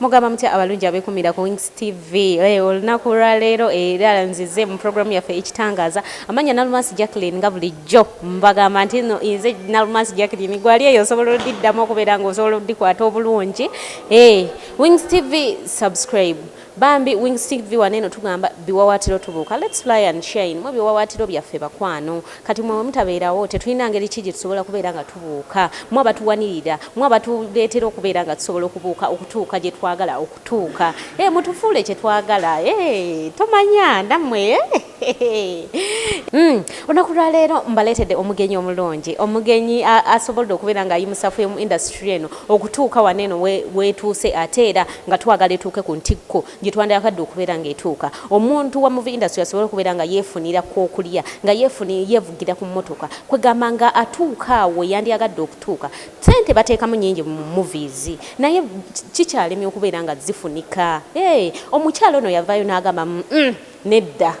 mugamba mutya abalungi abekumira ku wings tv eh, olunaku lwaleero era nzize mu programu yaffe ekitangaaza amanya nalumansi jacklin nga bulijjo mbagamba nti no nze nalumansi jacklin gwali eyo osobola odiddamu okubeera nga osobola odikwata obulungi eh, wings tv subscribe Bambi wings TV wano eno tugamba biwawatiro tubuuka let's fly and shine mwe biwawatiro byaffe bakwano kati mwe mutabeerawo tetulina ngeri ki gyetusobola kubeera nga tubuuka mwe abatuwanirira mwe abatuleetera okubeera nga tusobola okubuuka okutuuka gyetwagala okutuuka e eh, mutufuule kyetwagala e eh, tomanya namwe eh. Mm. olunaku lwaleero mbaleetedde omugenyi omulungi omugenyi asobolde okubeera nga ayimusafu emu industry eno okutuuka wano eno wetuuse ate era nga twagala etuuke ku ntikko gyetwandayakadde okubeera nga etuuka omuntu wa muvi industry asobole okubeera nga yeefunira kwokulya nga yeefuni yeevugira ku mmotoka kwegamba nga atuuka awo yandyagadde okutuuka sente bateekamu nyingi mu movies naye kikyalemye okubeera nga zifunika omukyalo ono yavaayo n'agamba mm, mm. Nedda.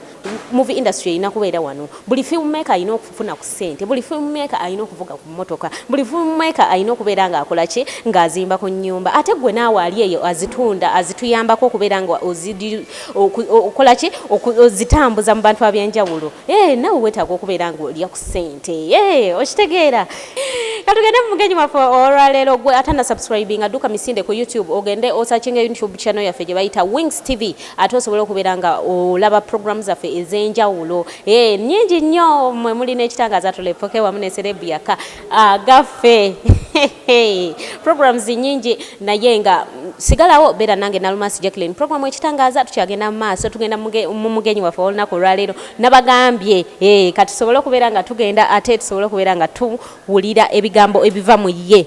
Movie industry erina kubeera wano. Buli film maker alina okufuna ku sente. Buli film maker alina okuvuga ku motoka. Buli film maker alina okubeera nga akola ki? Nga azimba ku nyumba. Ate gwe naawe ali eyo azitunda, azituyambako okubeera nga okola ki? Ozitambuza mu bantu ab'enjawulo. Eeh naawe wetaaga okubeera nga olya ku sente. Eeh okitegeera? Katugende mu mugenyi waffe olwaleero. Gwe atanasubscribinga dduka misinde ku YouTube ogende osearchinge YouTube channel yaffe gye bayita Wings TV. Ate osobola okubeera nga olaba program zaffe ez'enjawulo ee eh, nyingi nnyo mwe muli n'ekitangaza tulepoke wamu ne serebu yaka agaffe programs nyingi naye nga sigalawo beera nange nalumasi jacklin program ekitangaza tukyagenda mu maaso tugenda mu mugenyi waffe olunaku olwaleero nabagambye eh, kati tusobole okubeera nga tugenda ate tusobole okubeera nga tuwulira ebigambo ebiva mu ye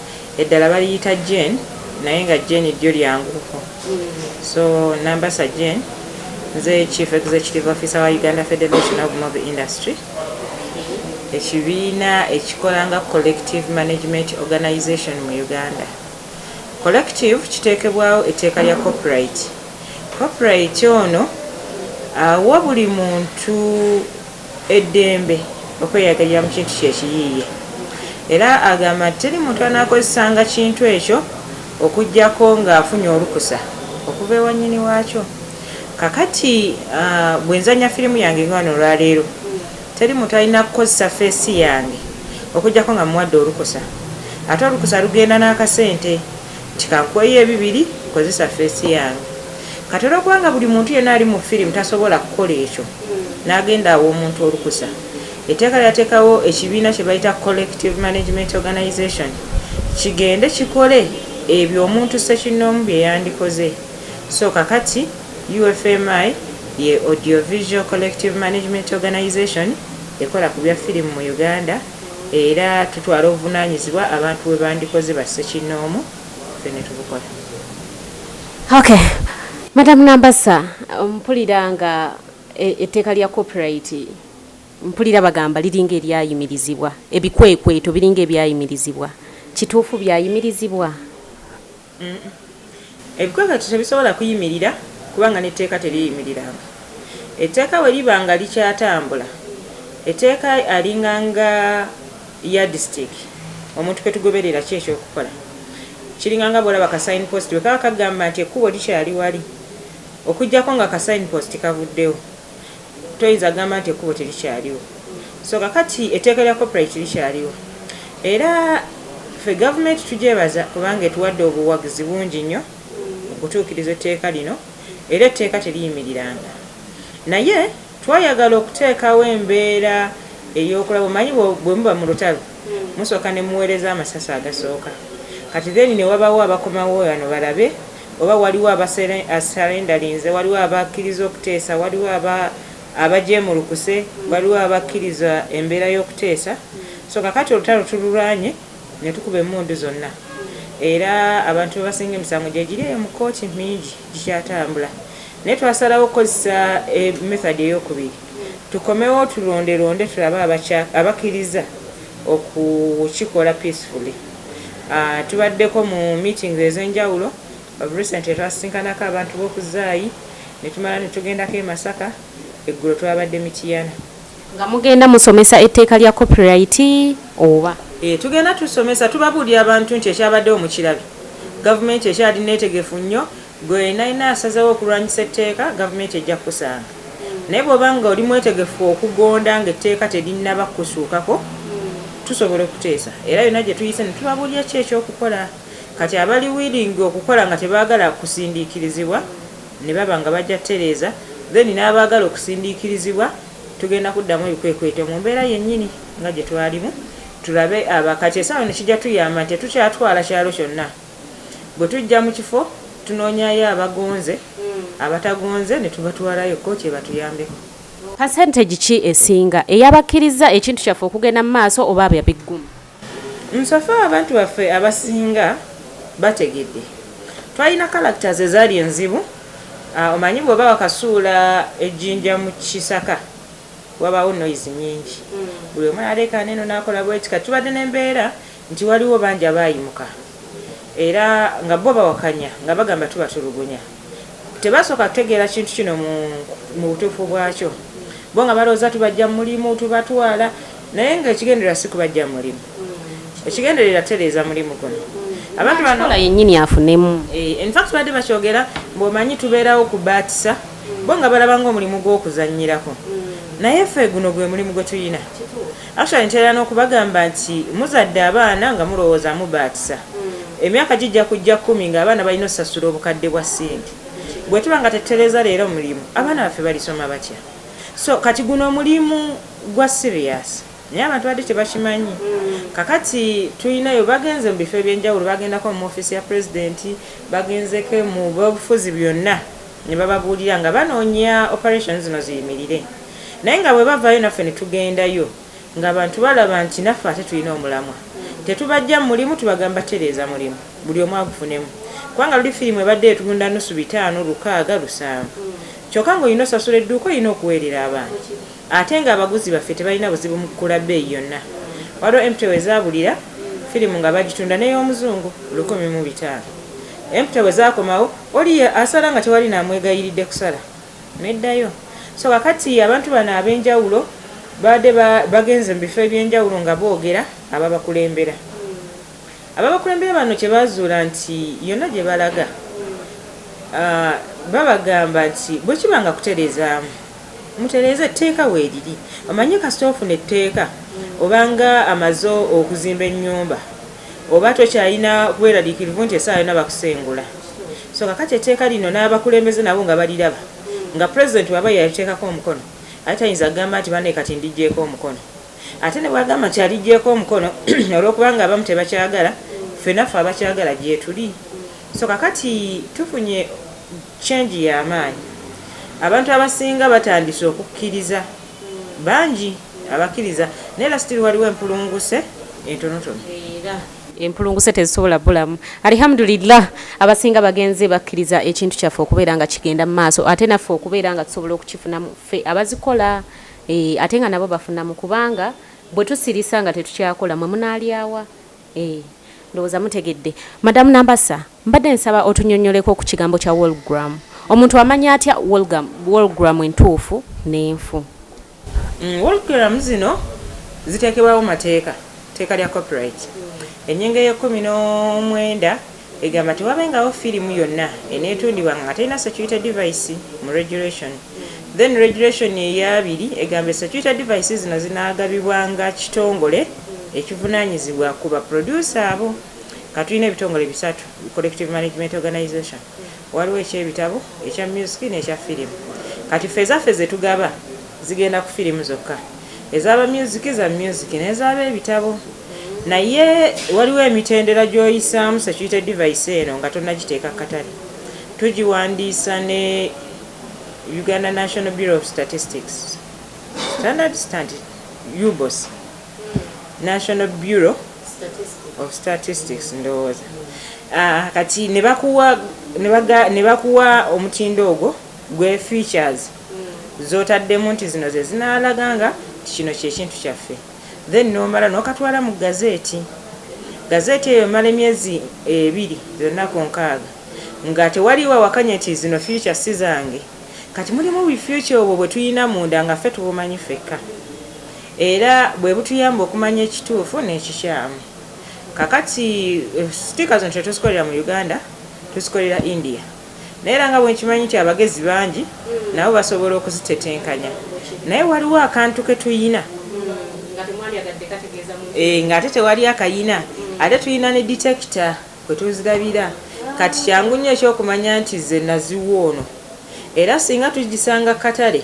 Eddala baliyita Jane naye nga Jane ddyo lyanguko so Nambasa Jane nze Chief Executive Officer wa Uganda Federation of Movie Industry ekibiina ekikola nga Collective Management Organization mu Uganda. Collective kiteekebwawo etteeka lya copyright. Copyright ono awa buli muntu eddembe okweyagalira mu kintu kye ekiyiiye era agamba nti teri muntu anaakozesanga kintu ekyo okuggyako ng'afunye olukusa okuva ewa nnyini waakyo. Kakati bwe nzannya firimu yange nga wano olwaleero, teri muntu alina kukozesa ffeesi yange okuggyako nga mmuwadde olukusa. Ate olukusa lugenda n'akasente Nti kankuweeyo ebibiri kozesa face yange kati olwokuba nga buli muntu yena ali mu film tasobola kukola ekyo nagenda awa omuntu olukusa eteeka lyatekawo ekibiina kyebayita collective management organization kigende kikole ebyo omuntu ssekinnoomu byeyandikoze so kakati UFMI ye Audio Visual Collective Management Organization ekola ku bya firimu mu Uganda. Era tutwala obuvunaanyizibwa abantu bwe bandikoze ba ssekinnoomu ffe ne tubukola. Ok. Madam Nambassa, mpulira nga e, etteeka lya copyright mpulira bagamba liringa eryayimirizibwa, ebikwekweto biringa ebyayimirizibwa. Kituufu byayimirizibwa? Ebikwekweto tebisobola kuyimirira kubanga n'etteeka teriyimiriranga. Etteeka bwe liba nga likyatambula, etteeka alinga nga yardstick omuntu kwe tugoberera ki eky'okukola. Kiringa nga bw'olaba ka sign post bwe kaba kagamba nti ekkubo likyali wali okuggyako nga ka sign post kavuddewo. Toyinza gamba nti ekkubo terikyaliwo. So kakati etteeka lya copyright likyaliwo era ffe gavumenti tugyebaza kubanga etuwadde obuwagizi bungi nnyo mu kutuukiriza etteeka lino era etteeka teriyimiriranga naye twayagala okuteekawo embeera ey'okulaba omanyi bwe muba mu lutalo musooka ne muweereza amasasi agasooka kati then ne wabawo abakomawo wano balabe Oba waliwo abasalendalinze, waliwo abakkiriza okuteesa, waliwo aba, abajeemulukuse, waliwo abakkiriza embeera y'okuteesa. So, kaakati olutalo tululwanye ne tukuba emmundu zonna. Era abantu be basinga emisango gye giri eyo mu kkooti, mingi gikyatambula. Naye twasalawo okukozesa e, method ey'okubiri. Tukomewo tulondelonde tulabe abakya, abakkiriza. okukikola peacefully tubaddeko mu meetings ezenjawulo of recently twasisinkanako abantu boku zaayi netumala netugendako e masaka eggulo twabadde mityana. Nga mugenda musomesa etteeka lya copyright oba? Eeh tugenda tusomesa tubabuulira abantu nti ekyabaddewo mukirabye gavumenti ekyali neetegefu nnyo Gwe yenayena asazewo okulwanyisa etteeka gavumenti ejja kukusanga naye bwoba nga oli mwetegefu okugonda nga etteeka terinaba kukusuukako tusobola okuteesa era yona gyetuyise netubabulira ki ekyokukola kati abali willing okukola nga tebagala kusindiikirizibwa nebaba nga bajja kutereeza then n'abaagala okusindiikirizibwa tugenda kuddamu ebikwekweto mu mbeera yennyini nga gyetwalimu tulabe aba kati esaawa eno kijja tuyamba nti tetukyatwala kyalo kyonna. Bwe tujja mu kifo tunoonyayo abagonze, abatagonze ne tubatwalayo kkooti ebatuyambeko. Percentage ki esinga, ey'abakkirizza ekintu kyaffe okugenda mu maaso oba abya biggumu? So far abantu baffe abasinga bategedde. Twalina characters ezaali enzibu, omanyi bw'oba wakasuula ejjinja mu kisaka wabaawo noise nnyingi, buli omu n'aleekaana eno n'akola bw'eti. Kati tubadde n'embeera. nti waliwo bangi abaayimuka era nga bo bawakanya nga bagamba tubatulugunya. Tebaasooka kutegeera kintu kino mu mu butuufu bwakyo bo nga balowooza tubaggya mu mulimu, tubatwala naye ng'ekigendererwa si kubaggya mu mulimu. Ekigendererwa kutereeza mulimu guno abantu bano Kola yennyini afunemu. Eh, in fact baadde bakyogera mbu omanyi tubeerawo kubaatisa bo nga balaba ng'omulimu gw'okuzannyirako naye ffe guno gwe mulimu gwe tulina. Actually ntera n'okubagamba nti muzadde abaana nga mulowooza mubaatisa. Emyaka gijja kujja kkumi ng'abaana balina osasula obukadde bwa ssente. Bwe tuba nga tetutereeza leero mulimu, abaana baffe balisoma batya? So kati guno mulimu gwa serious. Naye abantu badde tebakimanyi. Kakati tulinayo bagenze mu bifo eby'enjawulo, bagendako mu ofiisi ya Pulezidenti, bagenzeko mu b'obufuzi byonna. ne bababuulira nga banoonya operation zino ziyimirire naye nga bwe bavaayo naffe ne tugendayo ng'abantu balaba nti naffe ate tulina omulamwa tetubaggya mu mulimu tubagamba tereeza mulimu buli omu agufunemu kubanga luli firimu ebadde etunda nusu bitaano lukaaga lusanvu kyokka ng'olina osasula edduuka olina okuweerera abantu ate ng'abaguzi baffe tebalina buzibu mu kukula bbeeyi yonna waliwo emputewo ezaabulira firimu nga bagitunda n'ey'omuzungu lukumi mu bitaano emputewo zaakomawo Oli ye asala nga tewali namwegayiridde kusala neddayo. So kakati abantu bano abenjawulo baade bagenze mu bifo ebyenjawulo nga boogera ababakulembera. Ababakulembera bano kyebazuula nti yonna gyebalaga babagamba nti bwekiba nga kutereezaamu mutereeze etteeka weriri. Omanyi kasita ofuna etteeka obanga amaze okuzimba ennyumba. Oba tokyalina bweraliikirivu nti essaawa yonna bakusengula? So kakati etteeka lino n'abakulembeze nabo nga baliraba nga Pulezidenti bw'aba yaliteekako omukono ate tayinza kugamba nti banne kati ndiggyeeko omukono. Ate ne bw'agamba nti aliggyeeko omukono olw'okubanga abamu tebakyagala, ffe naffe abakyagala gyetuli. So kakati tufunye change ya maanyi. Abantu abasinga batandise okukkiriza. bangi abakiriza naye era still waliwo empulunguse entonotono. Empulunguse tezisobola bulamu Alihamudulillah abasinga bagenze bakiriza ekintu kyaffe okubeera nga kigenda mu maaso ate naffe okubeera nga tusobola okukifunamu ffe abazikola eh, ate nga nabo bafunamu kubanga bwe tusirisa nga tetukyakola mwe munaalyawa Eeh ndowooza mutegedde. Madam Nambassa, mbadde nsaba otunyonyoleko ku kigambo kya Wallgram. Omuntu amanya atya Wallgam, Wallgram entuufu n'enfu? Uhm Wallgram zino ziteekebwawo mateeka, tteeka lya copyright. Ennyingo ey'ekkumi n'omwenda Egamba tewabengawo firimu yonna enetundibwa nga terina security device mu regulation. Then regulation eya abiri egamba security device zino zinagabibwanga kitongole ekivunanyizibwa ku ba producer abo. Katulina ebitongole bisatu, Collective Management Organization, waliwo ekyebitabo, ekya music nekya firimu. Kati ffe ezaffe zetugaba zigenda ku firimu zokka. Eza ba music za music neza be bitabo. naye waliwo emitendera gy'oyisaamu security device eno nga tonnagiteeka ku katale tugiwandiisa ne uganda national bureau of statistics standard standard ubos national bureau of statistics ndowooza ah, kati ne bakuwa omutindo ogwo gwe features mm. zotaddemu nti zino ze zinaalaga nga kino kyekintu kyaffe then nomala nokatwala mu gazeeti, gazeeti eyo emala emyezi ebiri byonna ku nkaaga nga tewaliiwo awakanya nti zino future si zange kati mulimu buli future obwo bwe tulina munda nga ffe tubumanyi fekka era bwe butuyamba okumanya ekituufu n'ekikyamu. Kakati eh, sticker zino tetuzikolera mu Uganda, tuzikolera India. Naye era nga bwe nkimanyi nti abagezi bangi nabo basobola okuzitetenkanya naye waliwo akantu ke tuyina eh, ng'ate tewali akayina ate tuyina ne detekita kwe tuzirabira kati kyangu nnyo ekyokumanya nti ze naziwa ono era singa tugisanga katale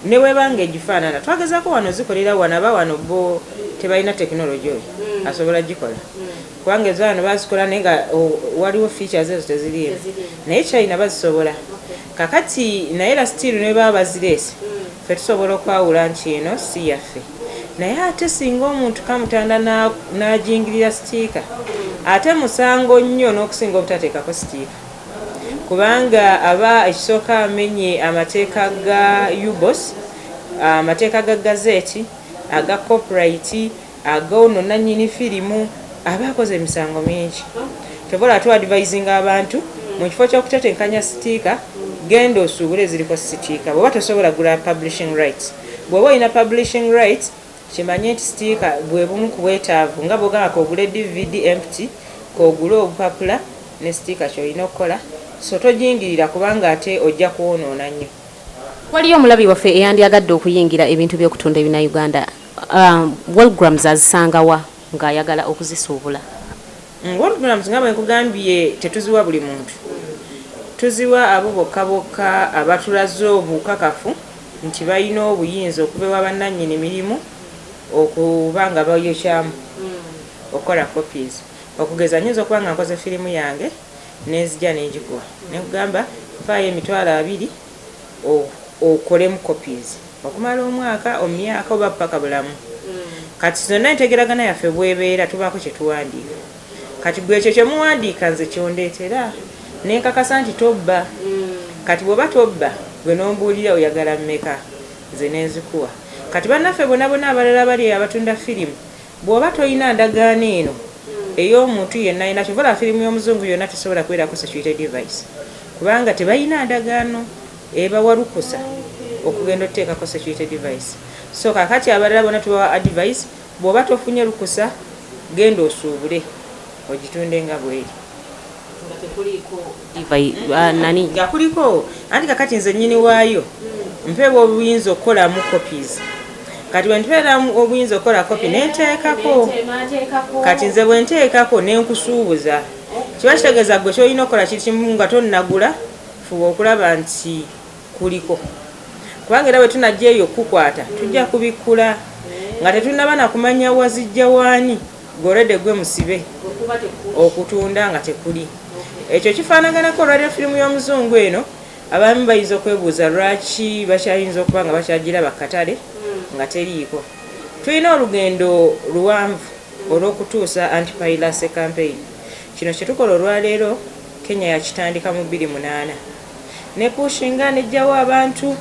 ne webanga egifaanana twagezako wano zikolera wano aba wano bo tebalina tekinologi oyo hmm. asobola gikola hmm. kubanga ezo wano bazikola naye nga waliwo features ezo teziriimu naye china bazisobola kakati naye era still nebaba bazireese mm. fe tusobola okwawula nti eno si yaffe naye ate singa omuntu kamutanda najingirira sitiika mm. ate musango nnyo n'okusinga obutateekako sitiika kubanga aba ekisooka amenye amateeka ga ubos amateeka ga gazeeti aga copyright Aga ono nanyini firimu aba akoze emisango mingi kyova olaba tu advisinga abantu mukifo kyokutetenkanya sitiika genda osuubule eziriko sitiika bwoba tosobola gula publishing rights bwoba olina publishing rights kimanye nti sitiika bwebumu kubwetaavu nga bwogamba kogule dvd empty kogule obupapula ne sitiika kyolina okukola so tojingirira kubanga ate ojja kwonoona nnyo. Waliyo omulabi waffe eyandyagadde okuyingira ebintu by'okutunda ebinayuganda? Um, walgrams azisangawa ng'ayagala okuzisuubula mm, walgrams nga bwenkugambye tetuziwa buli muntu tuziwa abo bokka bokka abatulaze obukakafu nti balina obuyinza okuva ewa bannannyini mirimu okuba nga bayokyamu mm. okukola copies okugeza nyinza okuba nga nkoze firimu yange nenzija nengikuwa nekugamba faayo emitwalo abiri okolemu copies okumala omwaka omyaka oba paka bulamu mm. kati zonna entegeragana yaffe bwebeera tubaako kyetuwandiika kati gwe ekyo kyemuwandiika nze kyondeetera nenkakasa nti tobba mm. kati bwoba tobba gwe nombuulira oyagala mmeka nze nenzikuwa kati bannaffe bonabona abalala bali abatunda firimu Bwoba tolina ndagaano eno ey'omuntu yenna yenna kyova olaba firimu y'omuzungu yonna tesobola kubeerako security device kubanga tebalina ndagaano ebawa lukusa okugenda oteekako security device so kakati abalala bona tubawa advice bwoba tofunye lukusa genda osuubule ogitunde nga bweri nga tekuliiko diva nani nga kuliko anti kakati nze nyini waayo hmm. mpeebwa obuyinza okukolamu copies kati bwentubeera obuyinza okukola kopi nenteekako kati nze bwenteekako nenkusuubuza kiba kitegeeza gwe kyolina okukola kiri kimu nga tonnagula fuba okulaba nti kuliko kubanga era bwetunajja eyo okukukwata tujja kubikkula nga tetunaba nakumanya wazijja waani Gorede gwe musibe okutunda nga tekuli ekyo kifaanaganako radio firimu y'omuzungu eno abaami bayinza okwebuuza lwaki bakyayinza okuba nga bakyagiraba ku katale nga teriiko tulina olugendo luwanvu olw'okutuusa antipayilase kampeyini kino kye tukola olwaleero kenya yakitandika mu bbiri munaana ne Kuushi nga anejjawo abantu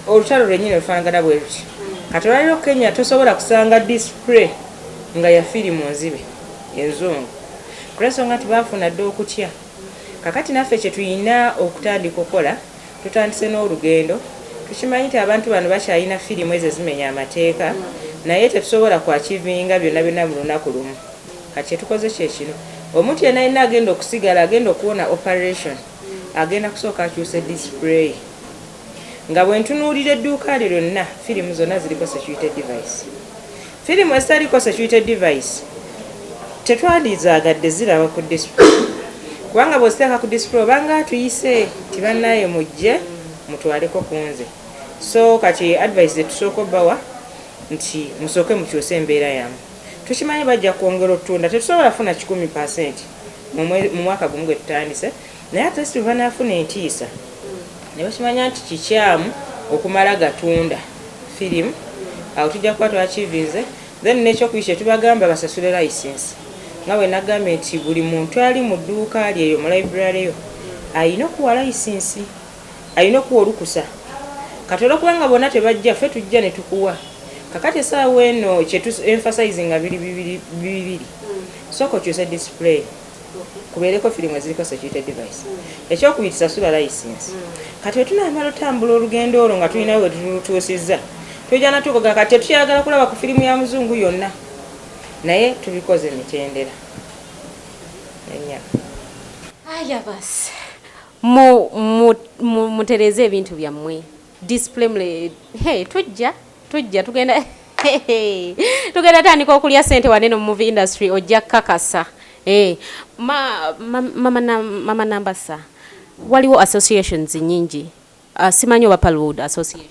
olutalo lwenyini olufanagana bwe luti kati olwaliro Kenya tosobola kusanga display nga ya firimu nzibe enzungu kulwensonga nti baafuna dda okutya kakati naffe kyetulina okutandika okukola tutandise n'olugendo tukimanyi nti abantu bano bakyalina firimu ezo ezimenya amateeka naye tetusobola kwakivinga byonna byonna mu lunaku lumu Kati kyetukoze kyekino omuntu yena yena agenda okusigala agenda okuwona operation agenda kusooka akyuse display nga bwentunuulira edduuka lye lyonna firimu zonna ziriko security device firimu ezitaliko security device tetwandizaagadde ziraba ku display kubanga bweziteeka ku display obanga atuyise nti bannaye mujje mutwaleko ku nze so kati advice zetusooka obbawa nti musooke mukyuse embeera yamu Tukimanyi bajja kwongera otunda. Tetusobola kufuna kikumi per cent mu mwaka gumu gwe tutandise, naye at least bwe banaafuna entiisa ne bakimanya nti kikyamu okumala gatunda firimu, awo tujja kuba twakiivinze. Then n'ekyokubiri kye tubagamba basasule layisinsi. Nga bwe nagambye nti buli muntu ali mu dduuka lye eyo mu layibulale yo alina okuwa layisinsi. Alina okuwa olukusa kati olwokuba nga bona tebajja ffe tujja netukuwa kakati esaawa eno kyetu emphasizinga biri bibiri sooka okyuse display kubeereko firimu eziriko security device ekyokubiri sasula license kati wetunamala otambula olugendo olwo nga tulina wetutuusizza tujana tukoga kati tetukyagala kulaba ku firimu ya muzungu yonna naye tubikoze emitendera enya aya basi Mu, mu, mu, mutereeze ebintu byammwe. Display mule. He, tujja, tujja, tugenda. tugenda tandika okulya sente wane no movie industry ojja kakasa eh ma, ma, mama na, mama nambasa waliwo associations nyingi uh, simanyi oba palwood association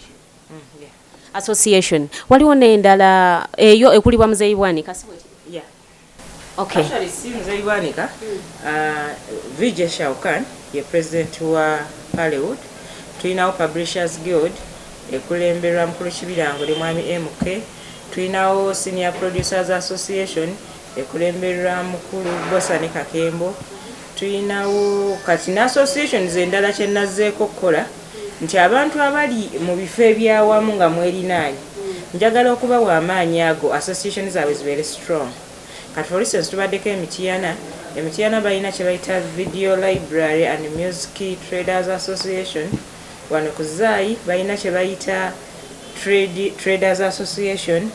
mm, yeah. association waliwo nendala eyo ekulibwa muzeyi bwani kasi yeah. Okay. Actually, si mzee Bwanika, uh, VJ Shaukan ye president wa Hollywood. Tulinawo Publishers Guild ekulemberwa mukulu kibirango ne mwami MK. Tulinawo Senior Producers Association ekulemberwa mukulu Bosa ne Kakembo. Tulinawo kati ne associations endala kye nazzeeko okukola nti abantu abali mu bifo eby'awamu nga mwerinaanye njagala okubawa amaanyi ago association zaabwe zibeere strong. Kati for instance tubaddeko e Mityana, e Mityana balina kye bayita Video Library and Music Traders Association, wano ku Zaayi balina kye bayita Trade Traders Association,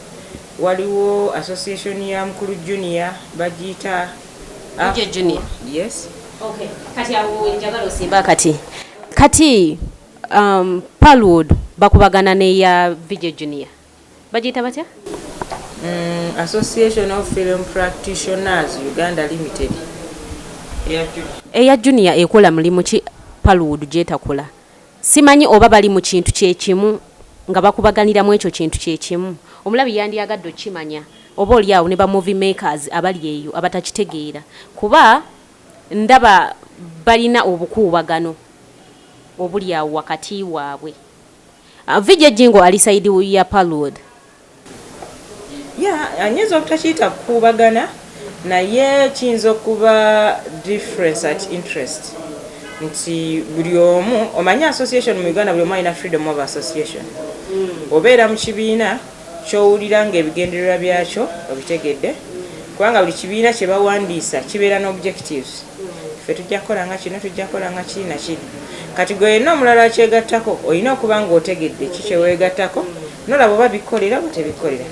waliwo association ya Mukulu Junior bagiyita. Ah. DJ Junior. Yes. Okay. Kati awo njagala osimba kati. Kati um, Palwood bakubagana ne ya VJ Junior. Bajita batya? Mm, Association of Film Practitioners Uganda Limited. Eya Junior ekola mulimu ki Palwood jetakola? Simanyi oba bali mu kintu kye kimu, nga bakubaganira mu ekyo kintu kye kimu. Omulabi yandyagadde okukimanya, oba oli awo ne ba movie makers abali eyo abatakitegeera, kuba ndaba balina obukuubagano obuli awo wakati waabwe. Vijay Jingo ali side ya Parwood, ya anyinza obutakiyita kukuubagana naye kiyinza okuba difference at interest nti buli omu omanyi association mu uganda buli omu alina freedom of association hmm. obeera mu kibiina kyowulira nga ebigendererwa byakyo obitegedde kubanga buli kibiina kyebawandiisa kibeera no objectives hmm. fe tujja kukola nga kino tujja kukola nga kiri nakiri kati gwe yenna omulala akyegattako olina okuba nga otegedde ki kyeweegattako nolaba oba bikolera oba tebikolera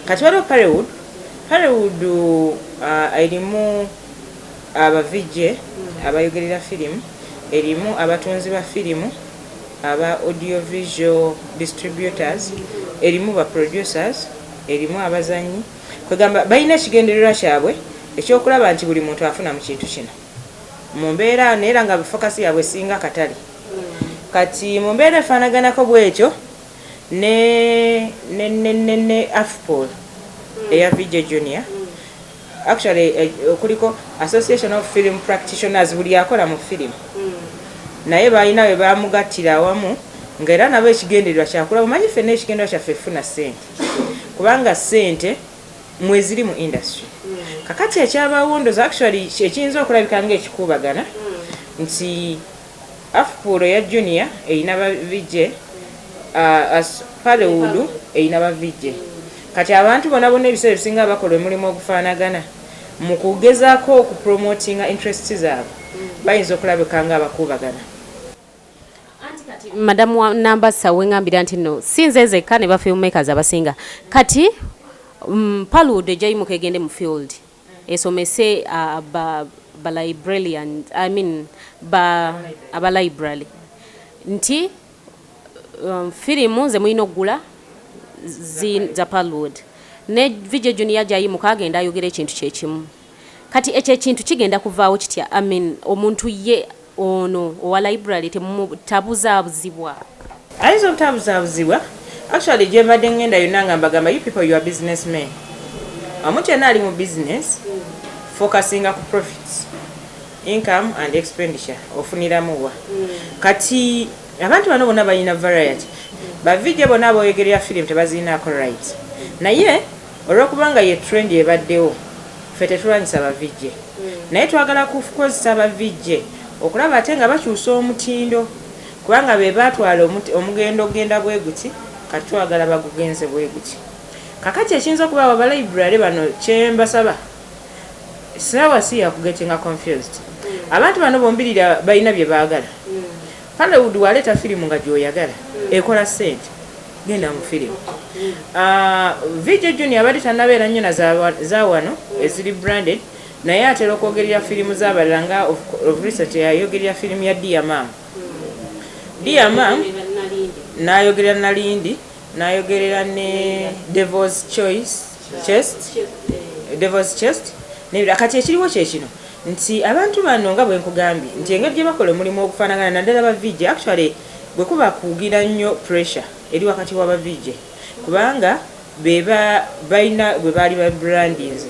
kati waliwo parewood parewood uh, erimu abavijje uh, abayogerera firimu erimu abatunzi ba firimu aba audiovisual distributors erimu ba producers erimu abazanyi kwegamba balina ekigendererwa kyabwe ekyokulaba nti buli muntu afuna mu kintu kino mu mbeera naye era nga fokasi yaabwe esinga katale kati mu mbeera efaanaganako bwetyo ne ne ne ne ne afpol mm. eya vj junior mm. actually eh, kuliko association of film practitioners buli akola mu film mm. naye balina we bamugattira awamu nga era nabo ekigendererwa kyakula bumanyi fenna ekigendererwa kyaffe funa sente kubanga sente mweziri mu industry mm. kakati ekyabawondoza actually ekiyinza okulabika nga ekikuubagana mm. nti Afpuuro eya Junior erina ba VJ, as Hollywood erina ba VJ. Kati abantu bona bona ebiseera ebisinga bakola omulimu ogufaanagana. Mu kugezaako okupromotinga interests zaabwe, bayinza okulabika nga abakuubagana. Anti kati Madam wa Nambassa wengambira nti nno si nze nzekka ne ba filmmakers abasinga kati Hollywood ejja yimuka egende mu field. esomese ba ba librarian i mean ba aba library nti um, firimu nze mulina okugula za palwood ne vijjo junior gyayimuka agenda ayogera ekintu kyekimu kati ekyo ekintu kigenda kuvaawo kitya amin omuntu ye Ono owa library temu tabuzabuzibwa. Ayinza obutabuzabuzibwa actually gyembadde ngenda yonna nga mbagamba you people you are business men omuntu yenna ali mu business focusinga ku profits income and expenditure ofuniramu wa kati abantu bano bona balina variety bavijje bona boyogerera film tebazirinaako right naye Olwokubanga ye trend ebaddewo ffe tetulwanyisa ba VJ naye twagala kukozesa ba VJ okulaba ate nga bakyusa omutindo kubanga be baatwala omugendo okugenda bweguti kati twagala bagugenze bweguti kakati ekiyinza okubaawo aba library bano kye mbasaba saawa si ya kugetinga confused abantu bano bombiriri balina bye baagala. Hollywood waleeta firimu nga gyoyagala ekola ssente genda mu firimu. Ah, VJ Junior abadde tannabeera nnyo na za wano eziri branded naye atera okwogerera firimu z'abalala nga of recent yayogerera firimu ya Dear Mom. Dear Mom n'ayogerera Nalindi n'ayogerera ne Devil's Choice chest devil's chest nebira kati ekiriwo kyekino nti abantu bano nga bwenkugambye nti engeri gyebakola omulimu ogufanagana naddala ba vijje actually bwekuba kugira nnyo pressure eri wakati wa ba vijje kubanga beba balina bwe baali ba brandinze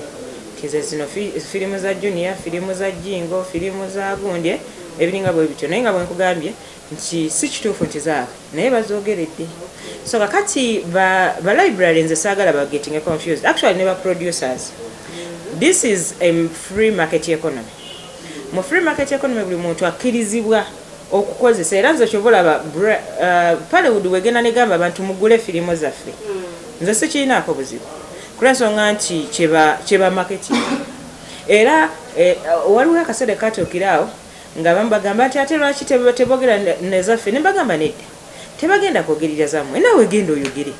tize zino firimu za junior firimu za jingo firimu za gundye ebiringa bwe bityo naye nga bwenkugambye nti sikituufu nti zaabu naye bazogeredde so kakati ba, ba library nze saagala ba getting confused actually ne ba producers this is a free market economy mu free market economy buli muntu akkirizibwa okukozesa era nze kyova olaba uh, palewood wegenda negamba abantu mugule firimu zaffe nze sikirinaako buzibu kulwensonga nti kyeba marketing era eh, waliwo akaseera katuukiraawo Nga abamu bagamba nti ate lwaki tebogera nezaffe nembagamba nedda tebagenda kogerira zamwe nawe genda oyogere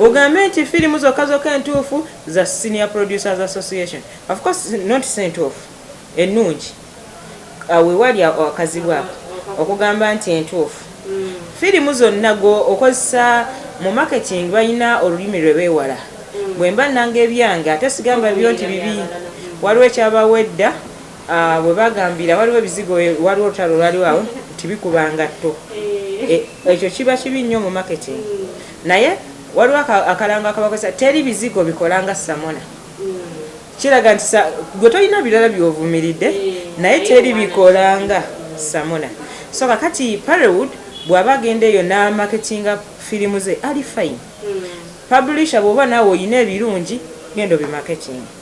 ogambe nti firimu zokka zokka entuufu za senior producers association of course not sentuufu ennungi wewali akazibu ako okugamba nti entuufu firimu zonna gwe okozesa mu marketing balina olulimi lwe beewala bwemba nanga ebyange ate sigamba byo nti bibi waliwo ekyabawedda Ah, we bagambira waliwo ebizigo waliwo olutalo olwaliwo awo nti bikuba ngatto eh. eh, ekyo kiba kibi nnyo mu marketing hmm. naye waliwo akalango akabakozesa teri bizigo bikolanga samona hmm. kiraga nti gwe tolina birala byovumiridde eh, naye teri bikolanga samona so kakati parewood bw'aba agenda eyo n'amaketinga firimu ze ali fine hmm. publisha bw'oba naawe olina ebirungi genda obimaketinga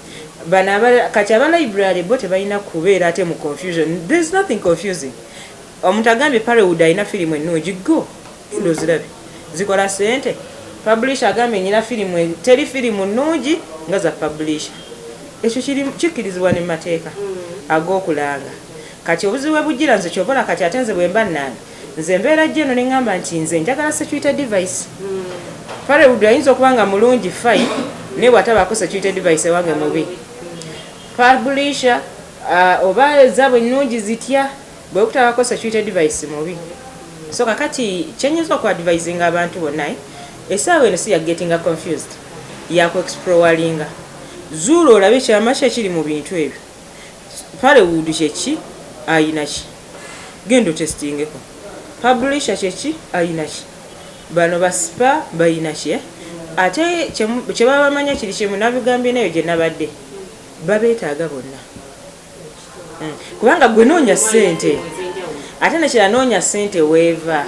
Bano aba kati aba library bo tebalina kubeera ate mu confusion. There is nothing confusing. Omuntu agambye Parrywood alina firimu ennungi go genda ozirabe zikola sente. Publisher agambye nina firimu e, teri firimu nnungi nga za publisher. Ekyo kikkirizibwa ne mu mateeka ag'okulanga. Kati obuzibu we bujjira nze ky'oba olaba kati ate nze bwe mba nnanga Nze mbeera jjo eno nengamba nti nze njagala security device. Parewood ayinza okuba nga mulungi fine naye bwatabaako security device ewange mubi. Publisher uh, oba ezaabwe nnungi zitya bwekutabako security device mubi. So kakati kyenyinza oku advisinga abantu bonna eh, esaawa eno si ya getting confused yaku exploringa zuula olabe kyama ki ekiri mu bintu ebyo. Pale wood kyeki ayinaki genda otestingeko publisher kyeki ayinaki bano ba spa bayinaki eh? ate kyebaba bamanya kiri kimu nabigambye nayo gyenabadde babetaaga bonna hmm. kubanga gwe noonya sente ate nekira noonya sente weeva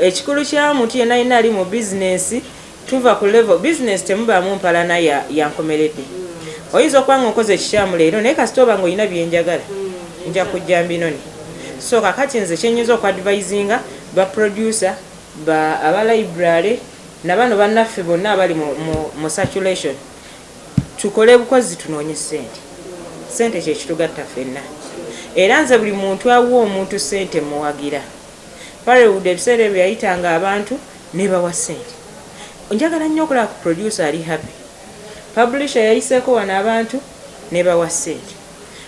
ekikulu kyamuntu yenayina ali mu bizinesi Tuva ku level business temubaamu mpalana ya yankomeredde. Oyinza okuba nga onkoze ekikyamu leero naye kasita oba nga olina bye njagala nja kujja mbinone. So kakati nze kye nyinza oku advisinga ba producer, ba aba library na bano bannaffe bonna abali mu mu mu circulation tukole bukozi tunoonye ssente. Ssente kye kitugatta ffenna era nze buli muntu awa omuntu ssente mmuwagira. Parewwood ebiseera ebyo yayitanga abantu nebawa sente njagala nnyo okulaba ku producer ali happy publisher yayiseeko wano abantu nebawa sente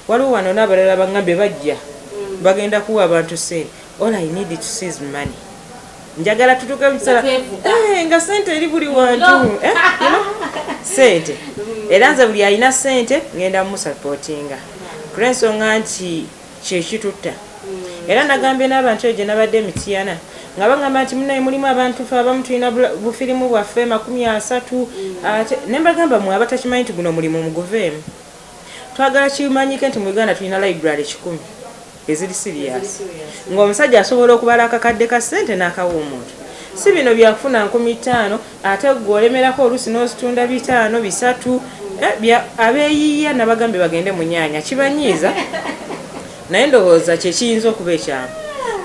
waliwo wano nabalala bangambye bajja bagenda kuwa abantu sente all i need to see is money njagala tutuke mukisala eh, nga sente eri buli wantu eh, sente era nze buli alina sente ngenda mumusupportinga kulwensonga nti kye kitutta era nagambye n'abantu eyo gye nabadde e Mityana nga bangamba nti munaye mulimu abantu fe abamu tulina bufirimu bwaffe makumi asatu ate ne mbagamba mwe abatakimanyi nti guno mulimu muguveemu twagala kimanyike nti mu Uganda tulina library kikumi eziri siriyasi ng'omusajja asobola okubala akakadde ka ssente n'akawa omuntu si bino byakufuna nkumi ttaano Ate gwe olemerako olusi nozitunda bitaano bisatu bya abeyiya nabagambye bagende munyanya kibanyiiza naye ndowooza kyekiyinza okuba ekyamu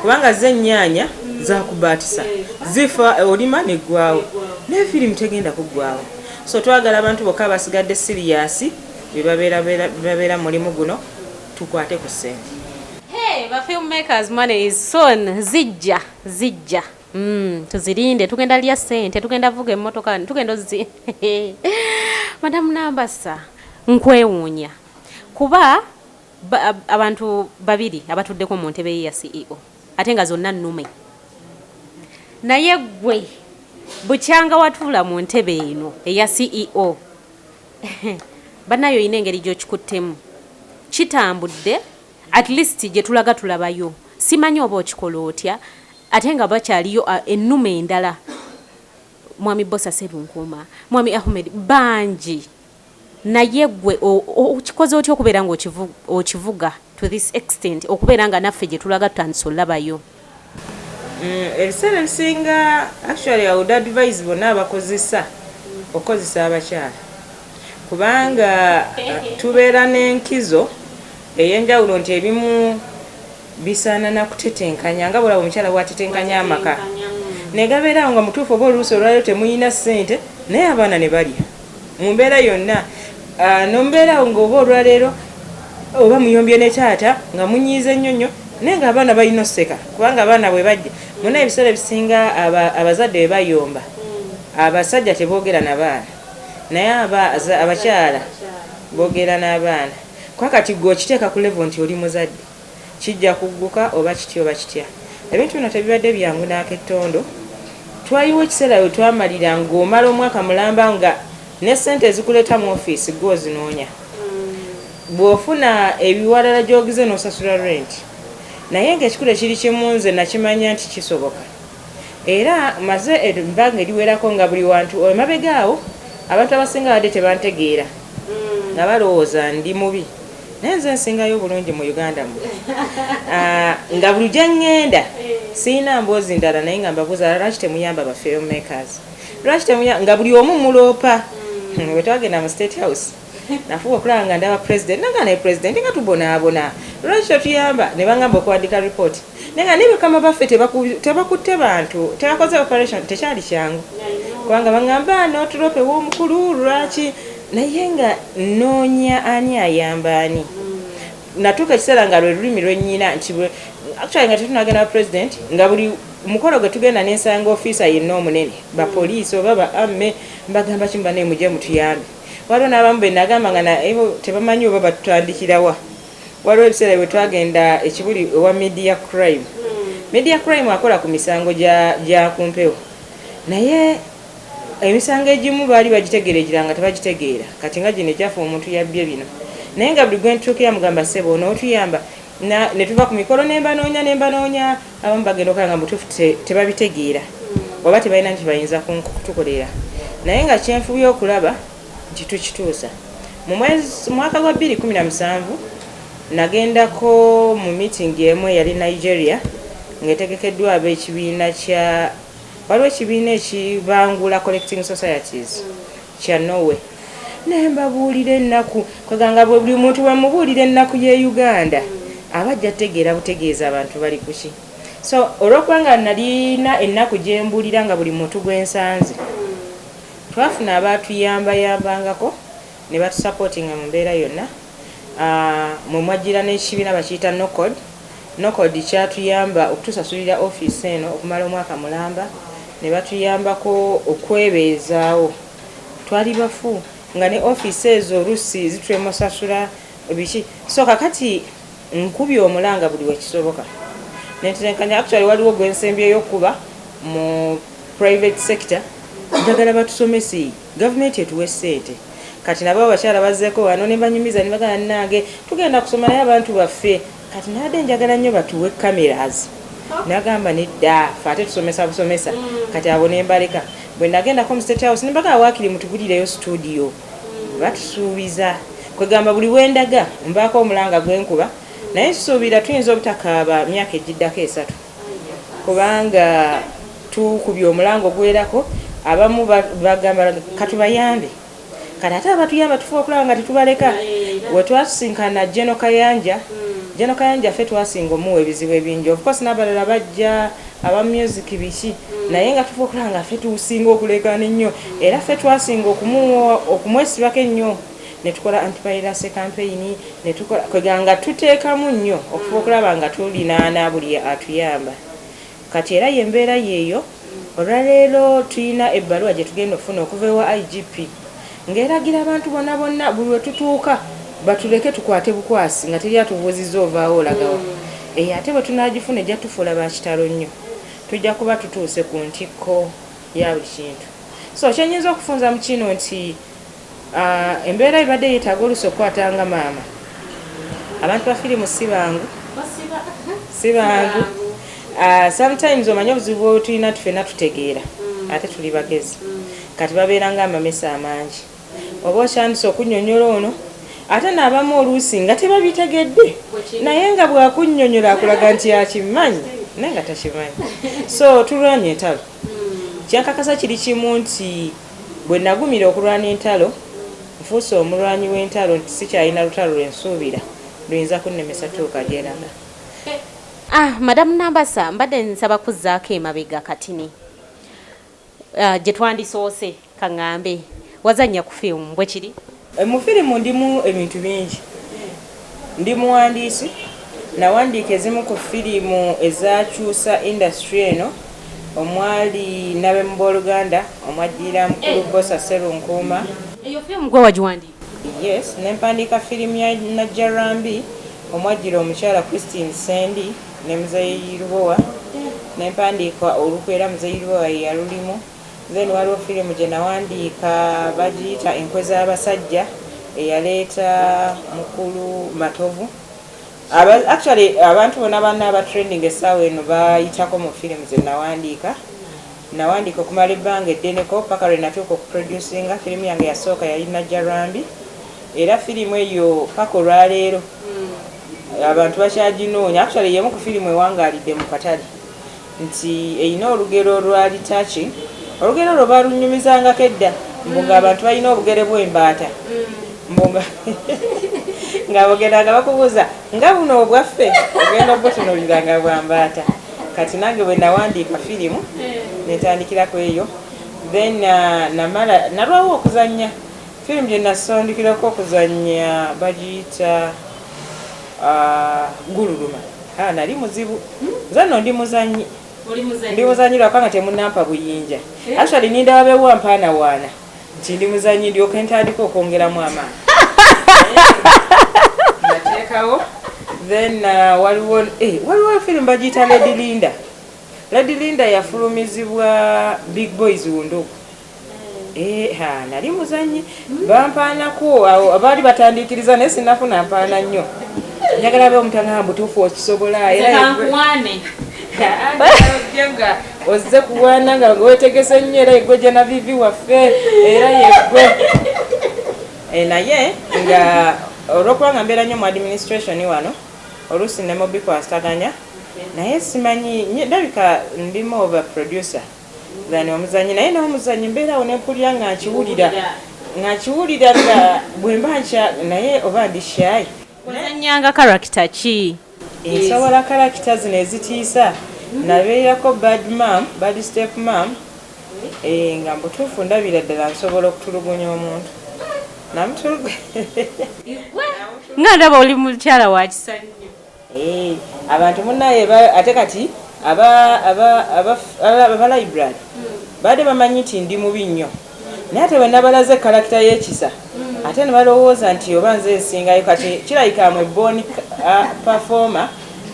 kubanga ze enyanya zakubatisa zifa olima negwawo naye firimu tegenda kugwawo so twagala abantu bokka abasigadde siriyasi bebabeera mulimu guno tukwate ku sente Hey, ba filmmakers money is soon zijja zijja Mm, tuzirinde tugenda lya sente tugenda vuga emotoka tugenda ozi madamu nambasa nkwewuunya kuba ba, abantu babiri abatuddeko mu ntebe ya ceo ate nga zonna nnume naye gwe bukyanga watuula mu ntebe eno eya ceo banaye olina engeri gyokikuttemu kitambudde At least gyetulaga tulabayo simanyi oba okikola otya ate nga bakyaliyo a enuma endala mwami Bbosa Serunkuuma, mwami Ahmed bangi naye gwe o o okikoze otya okubeera nga okivu okivuga to this extent okubeera nga naffe gyetulaga tutandise olabayo. Mm, ebiseera ebisinga actually I would advise bonna abakozesa okukozesa abakyala kubanga tubeera n'enkizo ey'enjawulo nti ebimu bisaana na kutetenkanya nga bwolaba omukyala bwatetenkanya amaka negabeera awo nga mutuufu oba oluusi olwaliro temuyina ssente naye abaana ne balya mu mbeera yonna ah, nombeera nga oba olwaleero oba muyombye ne taata nga munyiize nnyo nnyo naye nga abaana balina oseka kubanga abaana bwe bajja muna ebiseera ebisinga abazadde bwe bayomba abasajja teboogera na baana naye abakyala boogera n'abaana kwa kati gwe okiteeka ku levo nti oli muzadde kijja kugguka oba kitya oba kitya. Ebintu bino tebibadde byangu n'akettondo. Twaliwo ekiseera we twamalira ng'omala omwaka mulamba nga ne ssente ezikuleeta mu ofiisi ggwe ozinoonya. Bw'ofuna ebiwalala gy'ogize n'osasula renti. Naye ng'ekikulu ekiri kimu nze nakimanya nti kisoboka era mmaze ebbanga eriwerako nga buli wantu emabega awo abantu abasinga babadde tebantegeera nga balowooza ndi mubi. naye nze nsingayo obulungi mu uganda mu ah, nga buli gye ŋŋenda sirina mboozi ndala naye nga mbabuuza lwaki temuyamba ba film makers lwaki temuyamba nga buli omu muloopa hmm, we twagenda mu state house nafuba okulaba nga ndaba president naga naye president nga tubonaabona lwaki totuyamba ne bangamba okuwandika ripooti naye nga nebakama baffe tebakutte bantu tebakoze operation tekyali kyangu kubanga baŋamba notulopa ewomukulu lwaki naye nga noonya ani ayamba ani natuuka ekiseera nga lwe lulimi lwenyina nti actually nga tetunagenda president nga buli mukolo gwe tugenda nensanga ofiisa yenna omunene bapoliisi oba ba amme mbagamba kimu banaye mujje mutuyambe waliwo n'abamu benagamba nga naye tebamanyi oba batutandikirawa Waliwo ebiseera bwe twagenda ekibuli ewa media crime. Media crime akola ku misango gya ku mpewo, naye emisango egimu baali bagitegeera egira nga tebagitegeera. Kati nga gino egyaffe omuntu yabbye bino, naye nga buli gwe ntuukira mugamba ssebo onootuyamba ne tuva ku mikolo ne mbanoonya ne mbanoonya, abamu bagenda okola nga mubutuufu tebabitegeera oba tebalina nti bayinza kutukolera, naye nga kyenfubye okulaba nti tukituusa. Mu mwaka gwa bbiri kkumi na musanvu nagendako mu miitingi emu eyali Nigeria ng'etegekeddwa ab'ekibiina kya waliwo ekibiina ekibangula collecting societies kya Norway ne mbabuulira ennaku kwega nga buli muntu bwe mubuulira ennaku y'e Uganda aba ajja tegeera butegeeza abantu bali ku ki so olw'okuba nga nalina ennaku gye mbuulira nga buli muntu gwe nsanze Twafuna abaatuyambayambangako ne batusapootinga mu mbeera yonna mwe mwajjira n'ekibiina bakiyita NOCOD. NOCOD kyatuyamba okutusasulira ofiisi eno okumala omwaka mulamba ne batuyambako okwebeezaawo. Twali bafu nga ne ofiisi ezo oluusi zitulemwa okusasula biki so kakati. Nkubye omulanga buli wekisoboka nentetenkanya actually waliwo gwensembyeyo okukuba mu private sector njagala batusomese gavumenti etuwe sente kati nabo abakyala bazeko wano nebanyumiza nebagana nange tugenda kusoma naye abantu baffe kati nade njagala nnyo batuwe cameras nagamba nedda fe ate tusomesa busomesa kati abo nembaleka bwenagendako mu state house nebagana wakiri mutugulireyo studio Batusuubiza. Kwegamba buli wendaga mbaako omulanga gwenkuba naye nsuubira tuyinza obutakaaba myaka egiddako esatu kubanga tukubye omulanga ogwerako abamu bagamba katubayambe kati ate abatuyamba tufuba okulaba nga tetubaleka wetwasinkana jeno kayanja jeno kayanja ffe twasinga omuwa ebizibu ebingi ofcourse nabalala bajja aba music biki naye nga tufa okulaba nga ffe tusinga okuleekaana ennyo era ffe twasinga okumwesibako ennyo ne tukola antipayirase kampeyini ne tukola kwega nga tuteekamu nnyo okufa okulaba nga tulinaana buli atuyamba kati era ye mbeera yeeyo olwaleero tulina ebbaluwa gye tugenda okufuna okuva ewa igp Ng'eragira abantu bona bonna buli we tutuuka batuleke tukwate bukwasi nga teri atubuuzizza ovaawa olaga wa? Eyo ate bwe tunaagifuna ejja tufuula ba kitalo nnyo. Tujja kuba tutuuse ku ntikko ya buli kintu. So kye nnyinza okufunza mu kino nti embeera ebadde yeetaaga oluusi okukwata nga maama. Abantu ba firimu si bangu, si bangu. Sometimes omanyi obuzibu bwetulina tufena tutegeera ate tuli bagezi. Kati babeera nga amamese amangi oba okyandise okunyonyola ono ate nabamu oluusi nga tebabitegedde naye nga bwakunyonyola akulaga nti akimanyi naye nga takimanyi so tulwanye entalo kyankakasa kiri kimu nti bwe nagumira okulwana entalo nfuuse omulwanyi w'entalo nti sikyalina lutalo lwensuubira luyinza kunnemesa tuuka gyenana Ah, Madam Nambasa, mbadde nsaba kuzzaako emabega katini. Ah, gye twandisoose ka ŋŋambe. Wazannya ku firimu, bwe kiri? Eh, mu firimu ndimu ebintu bingi. Ndi muwandiisi, nawandiika ezimu ku firimu ezaakyusa indasitule eno omwali Nabemu Booluganda, omwaddirira Mukulu Bbosa Sserunkuuma, Eyo firimu ggwe wagiwandiika? Yes, ne mpandiika firimu ya Najjarwambi omwajjira omukyala Christine Ssendi ne Muzeeyi Lubowa ne mpandiika olukwe era Muzeeyi Lubowa ye yalulimu. Then waliwo firimu gye nawandiika bagiyita Enkwe z'abasajja eyaleeta mukulu Matovu. Aba, actually abantu bona banna aba trending essaawa eno bayitako mu firimu ze nawandiika Nawandiika okumala ebbanga eddeneko paka lwe natuuka oku producinga firimu yange yasooka yali Najjarambi era firimu eyo paka olwaleero abantu bakyaginoonya actually yemu ku firimu ewangaalidde mu katale nti erina olugero olwali touching olugero olwo baalunyumizangako edda mbu ng'abantu balina obugere bw'embaata mbu nga ng'abogeranga bakubuuza nga buno obwaffe ogenda obutunulira nga bwa mbaata kati nange bwe nawandiika firimu netandikira ku eyo then uh, namala nalwawo okuzannya firimu gye nasondikirako okuzannya bagiyita uh, gululuma ah, nali muzibu nze no ndi muzannyi ndi muzannyi lwakubanga temunampa buyinja eh? actually nindawabewa mpaanawaana nti ndi muzanyi ndyoke ntandika okwongeramu amaanyi nateekawo then uh, waliwo eh, waliwo firimu bagiyita lady linda lady linda yafulumizibwa big boys wunduku eh, nali muzanyi bampaanako abaali batandiikiriza naye sinafuna mpaana nnyo njagala be omutanga mbutuufu okisobola era ozze kuwana nga wetegese nnyo era yegwe genavivi waffe era yegwe eh, naye nga olwokuba nga mbeera nnyo mu administration wano oluusi nemubikwasaganya naye simanyi ndabika ndimu oba producer than omuzanyi naye n'omuzanyi mbeerawo nempulira nga nkiwulira nga nkiwulira nga bwemba nkya naye oba ndi shayi ozanyanga karakita ki Nsobola kalakita zino ezitiisa. Nabeerako bad mom, bad step mom, eeh nga mbutuufu ndabira ddala nsobola okutulugunya omuntu namutulugunya. Igwe nga ndaba oli mukyala wakisa nnyo. Eeh abantu munaye ate kati aba aba aba aba library baade bamanyi nti ndi mubi nnyo. Naye ate bwenabalaze kalakita yekisa ate nebalowooza nti oba nze nsingayo kati kirabika am a born performer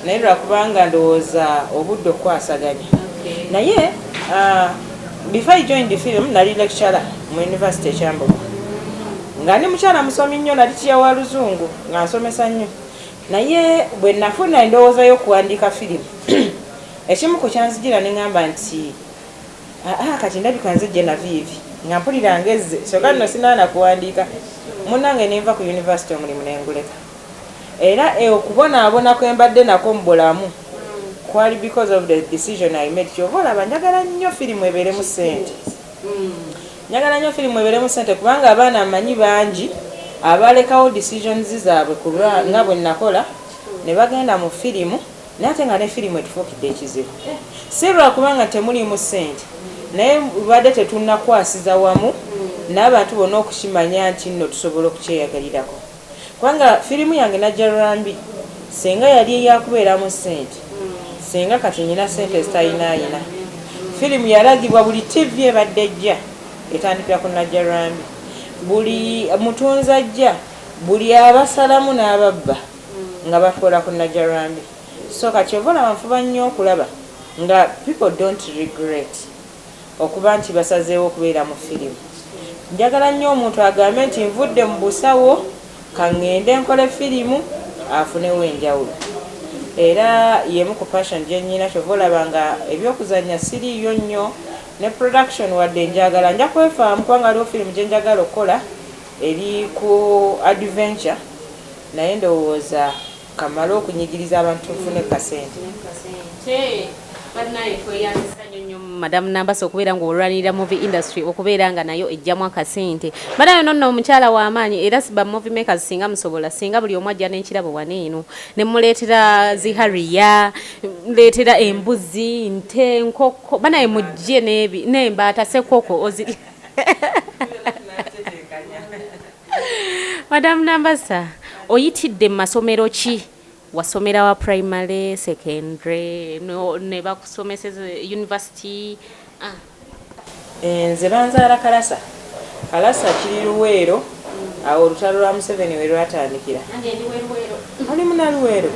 naye lwakubanga ndowooza obudde okukwasaganya naye ah, before I joined the film nali lecturer mu university ekyambogo nga ndi mukyala musomi nnyo nali tiya wa luzungu nga nsomesa nnyo naye bwe nafuna endowooza y'okuwandiika firimu ekimu ku kyanzijira ne ŋŋamba nti Haa kati ndabika nze Genavieve nga mpulira ngezze kyoka nno sinaana kuwandiika munange nenva ku University omulimu nenguleka era e okubonaabona kwembadde nakwo mu bulamu kwali because of the decision I made kyova olaba njagala nnyo firimu ebeeremu ssente njagala nnyo firimu ebeeremu ssente kubanga abaana mmanyi bangi abalekawo decisions zaabwe kulwa nga bwe nakola ne bagenda mu firimu Naye ate nga ne firimu etufuukidde ekizibu. Si lwa kuba nga temuliimu ssente, naye bubadde tetunnakwasiza wamu n'abantu bonna okukimanya nti nno tusobola okukyeyagarirako. Kubanga firimu yange Najjalwambi ssenga yali eyakubeeramu ssente, ssenga kati nnina ssente ezitalinaayina. Firimu yalagibwa buli ttivvi ebadde ejja etandikira ku Najjalwambi. Buli mutunzi ajja, buli abasalamu n'ababba. nga bakola ku Najarambi so kati ova olaba nfuba nnyo okulaba nga people don't regret okuba nti basazeewo okubeera mu firimu njagala nnyo omuntu agambe nti nvudde mu busawo kangende nkole firimu afunewo enjawulo era yemu ku passion gyenyina kyova olaba nga ebyokuzannya siriiyo nnyo ne production wadde njagala nja kwefaamu kubanga waliwo firimu gyenjagala okukola eri ku adventure Naye ndowooza kamale okunyigiriza abantu nfune kasente. Banaye tweyambisa nyo nyo madam Nambasa okubeera nga olwanirira movie industry okubeera nga nayo ejjamu akasente banaye ono nno omukyala w'amaanyi era ba movie makers singa musobola singa buli omu ajja n'ekirabo wano eno ne muleetera zi hariya muleetera embuzi nte nkoko banaye mujje n'embaata sekoko oziri madamu nambasa oyitidde mu masomero ki wasomera wa primary secondary no, ne bakusomeseza university ah. Eh, nze banzaala kalasa kalasa kiri luweero awo olutalo lwa museveni we lwatandikira oli munaluweero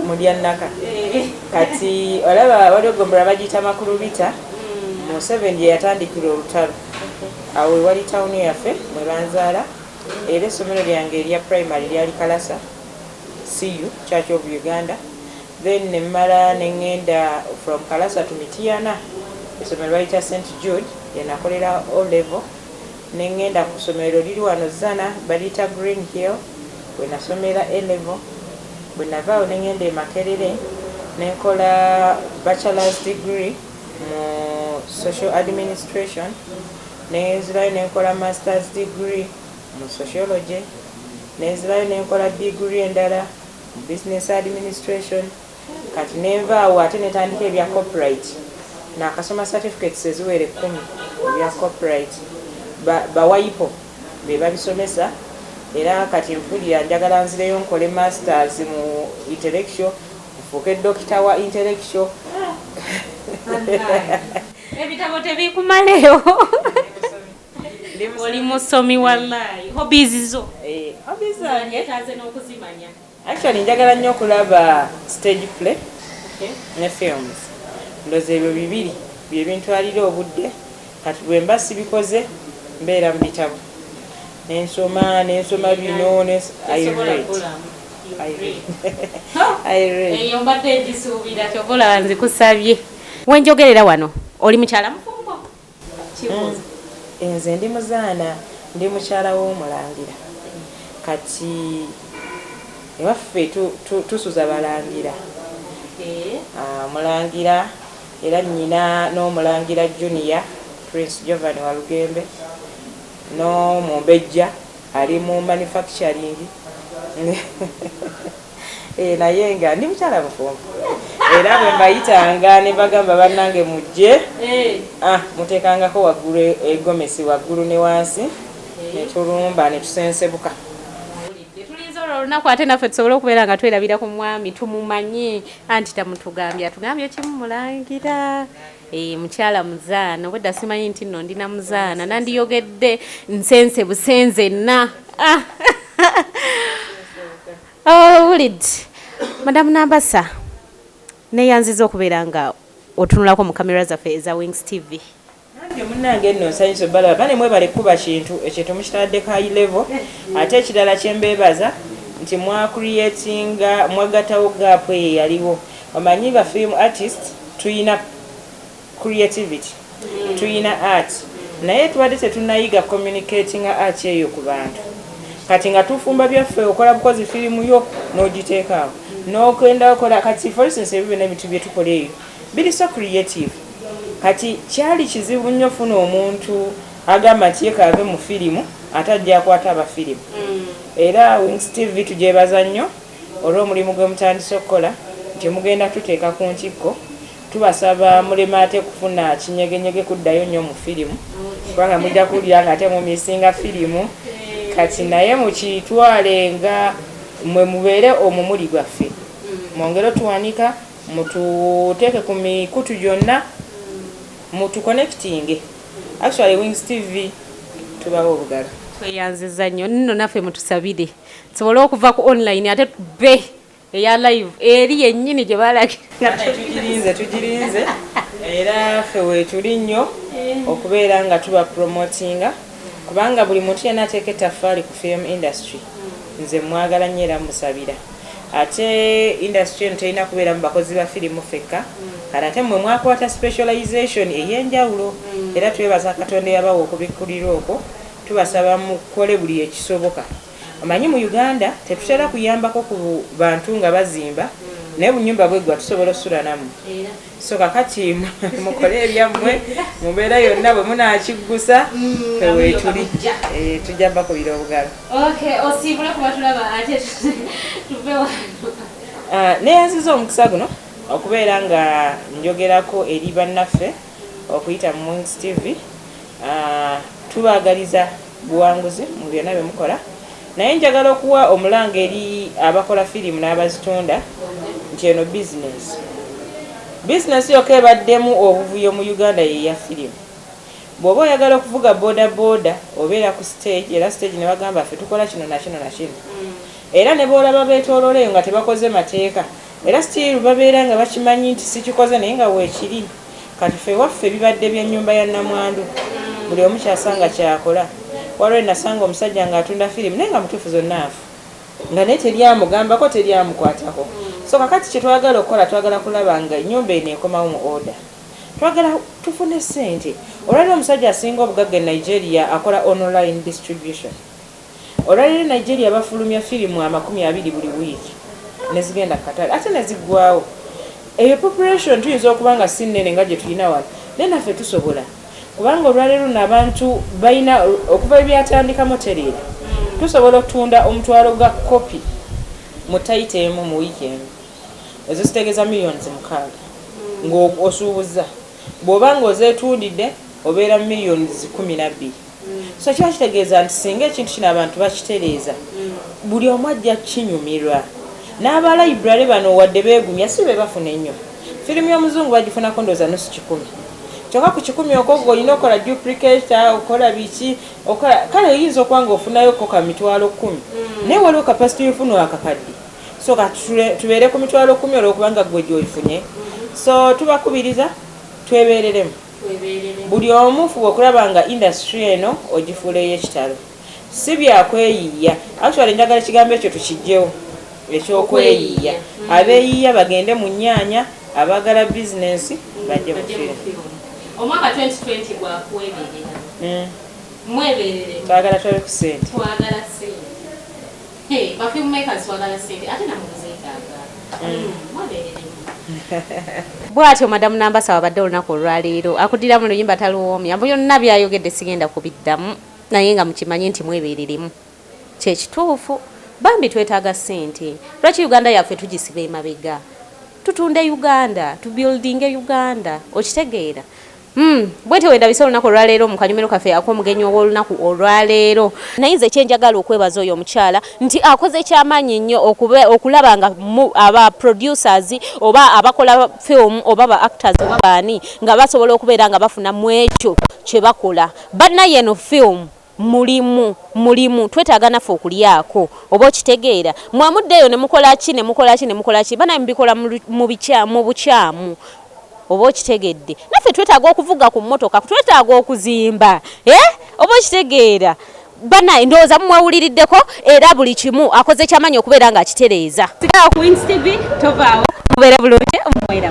mulya naka eh. kati olaba waliwo gombora bagiyita makulubita mm. museveni yeyatandikira olutalo Awo we wali tawuni yaffe mwe banzaala era essomero lyange erya primary lyali Kalasa CU, Church of Uganda, then ne mmala ne ngenda from Kalasa to Mityana essomero baliyita Saint Jude lye nakolera O-Level ne ngenda ku ssomero liri wano Zzana baliyita Green Hill we nasomera A-Level. Bwe nava awo ne ngenda e Makerere ne nkola Bachelor's degree. mu social administration nenzirayo nenkola masters degree mu sociology nenzirayo nenkola degree endala mu business administration kati nenva awo ate netandika ebya copyright nakasoma certificates eziwera ekkumi ebya copyright bawayipo be babisomesa era kati nfulira njagala nzireyo nkole masters mu intellectual Nfuuke dokita wa intellectual. Ebitabo tebikumaleewo. Oli musomi wallahi. Hobbies zo. Eh, hobbies zange taze n'okuzimanya. Actually njagala nnyo okulaba stage play ne films. Ndoza ebyo bibiri bye bintwalira obudde. Kati bwe mba sibikoze mbeera mu bitabo ne nsoma ne nsoma bino ne I read. I read. I read. Eyo mbadde ngisuubira kyova olaba nzikusabye. We njogerera wano oli mukyala mufumbo? Kibuuzo. Mm. Nze ndi muzaana ndi mukyala w'omulangira kati ewaffe tusuza balangira eh? ah, mulangira era nnyina n'Omulangira Junior Prince Jovan Walugembe n'Omumbejja ali mu manufacturing eeh naye nga ndi mukyala mufumbo era bwe mbayitanga ne mbagamba bannange mujje ah, muteekangako waggulu egomesi waggulu ne wansi ne tulumba ne tusensebuka olunaku ate naffe tusobole okubeera nga twerabira ku mwami tumumanye anti tamutugambye atugambye kimu mulangira e, mukyala muzaana obwedda simanyi nti nno ndina muzaana nandiyogedde nsense busenze enna ah. owulid oh, madamu nambasa neyanziza okubeera nga otunulako mu kamera zaffe eza wings tv Nange munange nno nsanyuse balaba bane mwebale kuba kintu ekintu mukitadde ka level ate ekirala kyembebaza nti mwa creatinga mwagatawo gap eyo eyaliwo omanyi ba film artist tuyina creativity tuyina art naye tubadde tetunayiga communicatinga art eyo ku bantu kati nga tufumba byaffe okola bukozi filimu yo nogiteekaawo nogenda okola kati for instance ebyo byona ebintu byetukola eyo Biri so creative kati kyali kizibu nnyo funa omuntu agamba nti ye kaave mu firimu ate ajja akwata abafirimu mm. era Wings TV tugyebaza nnyo olw'omulimu gwe mutandise okukola nti mugenda tuteeka ku ntikko tubasaba mulema ate kufuna kinyegenyege kuddayo nnyo mu firimu kubanga mujja kuwulira nga ate mumisinga firimu kati naye mukitwale nga mwe mubeere omumuli gwaffe mm. mwongere otuwanika Mututeeke ku mikutu gyonna mutu connectinge actually wings TV tubawa obugalo. Tweyanziza nnyo nno naffe mutusabire tusobole okuva ku online ate tubbe eya live eri yennyini gye balagira. Tugirinze tugirinze era ffe weetuli nnyo okubeera nga tuba promotinga kubanga buli muntu yenna ateeka ettaffaali ku film industry nze mwagala nnyo era musabira. Ate industry eno terina kubeeramu bakozi ba firimu ffekka, kati ate mmwe mwakwata specialization ey'enjawulo era twebaza Katonda eyabawa okubikkulirwa okwo, tubasaba mukole buli ekisoboka. Omanyi mu Uganda tetutera kuyambako ku bantu nga bazimba naye obunyumba bweggwa tusobola osulanamwe. so kakati mukole ebyammwe mubeera yonna bwe munakiggusa eweetuli eh, tujja bakubira obugalo ah, neyanziza omukisa guno okubeera nga njogerako eri bannaffe okuyita mu tv ah, tubagaliza buwanguzi mu byonna bye mukola naye njagala okuwa omulanga eri abakola firimu n'abazitunda nti eno bizinensi bizinensi yokka ebaddemu obuvuyo mu uganda yeya firimu bw'oba oyagala okuvuga boda boda obeera ku stage era stage ne bagamba ffe tukola kino nakino nakino mm. era ne boolaba beetoololeyo nga tebakoze mateeka era stiiru babeera nga bakimanyi nti sikikoze naye nga weekiri Kati ffe ewaffe bibadde bya nyumba ya namwandu buli omu kyasanga kyakola waliwo enasanga omusajja nga atunda firimu naye nga mutuufu zonna nfu nga naye teri amugambako teri amukwatako so kakati kyetwagala okukola twagala kulaba nga enyumba eno ekomawo mu order twagala tufune sente olwaliro omusajja asinga obugagga e Nigeria akola online distribution Olwaleero Nigeria bafulumya firimu amakumi abiri buli wiiki nezigenda ku katale ate neziggwawo. Eyo population tuyinza okuba nga si nnene nga gyetulina wano naye naffe tusobola kubanga olwaleero luno abantu balina okuva webyatandikamu otereera tusobola okutunda omutwalo ga kopi mu tayita emu mu wiiki emu. Ezo zitegeeza millions mukaaga ng'osuubuzza bw'oba ng'ozeetundidde obeera millions kkumi na bbiri. so kiba kitegeeza nti singa ekintu kino abantu bakitereeza buli omu ajja kinyumirwa n'abalayibrary bano wadde beegumya si be bafuna ennyo firimu y'omuzungu bagifunako ndooza nusu kikumi kyokka ku kikumi okwo gwe olina okukola duplicator okola biki okola kale oyinza okuba nga ofunayoko ka mitwalo kkumi mm. naye waliwo kapasiti yofuna wakakadde so ka tubeere ku mitwalo kkumi olwokubanga gwe gyoyifunye so tubakubiriza twebeereremu Buli omu fuba okulaba nga industry eno ogifuula eyekitalo. Si bya kweyiiya. Actually njagala ekigambo ekyo tukijjewo ekyokweyiiya. Abeyiiya bagende mu nyaanya, abaagala business bajje mu film. Omwaka 2020 gwa kweberera. Mweberere. Twagala tulabe ku sente. Twagala sente. Hey, ba film makers twagala sente ate namwe muzetaaga. Mm. Mwabeereremu. Bwatyo Madam Nambasa wabadde olunaku olwaleero akudira mu luyimba taluwoomya mbu yonna byayogedde sigenda kubiddamu naye nga mukimanye nti mwebeereremu kyekituufu bambi twetaaga ssente lwaki uganda yaffe tugisiba emabega tutunde uganda tubuildinge uganda okitegeera Mm, bwete wendabise olunaku olwaleero mu kanyumiro kaffe ak'omugenyi ow'olunaku olwaleero naye nze kyenjagala okwebaza oyo omukyala nti akoze kyamaanyi nnyo okulaba nga aba producers oba abakola film oba ba actors oba baani nga basobola okubeera nga bafuna mu ekyo kye bakola banna yeno film Mulimu, mulimu, twetaaga naffe okulyako. Oba okitegeera? Mwa muddeeyo ne mukola ki, ne mukola ki, ne mukola ki, bannange mubikola mu, mu bikya, mu bukyamu. Oba okitegedde? Naffe twetaaga okuvuga ku mmotoka, twetaaga okuzimba. Eh? Oba okitegeera? Bannange, ndowooza mumwewuliriddeko, era buli kimu akoze ky'amaanyi okubeera nga akitereeza. Sigala ku Wings TV, tovaawo. Mubeere bulungi, mmwe era.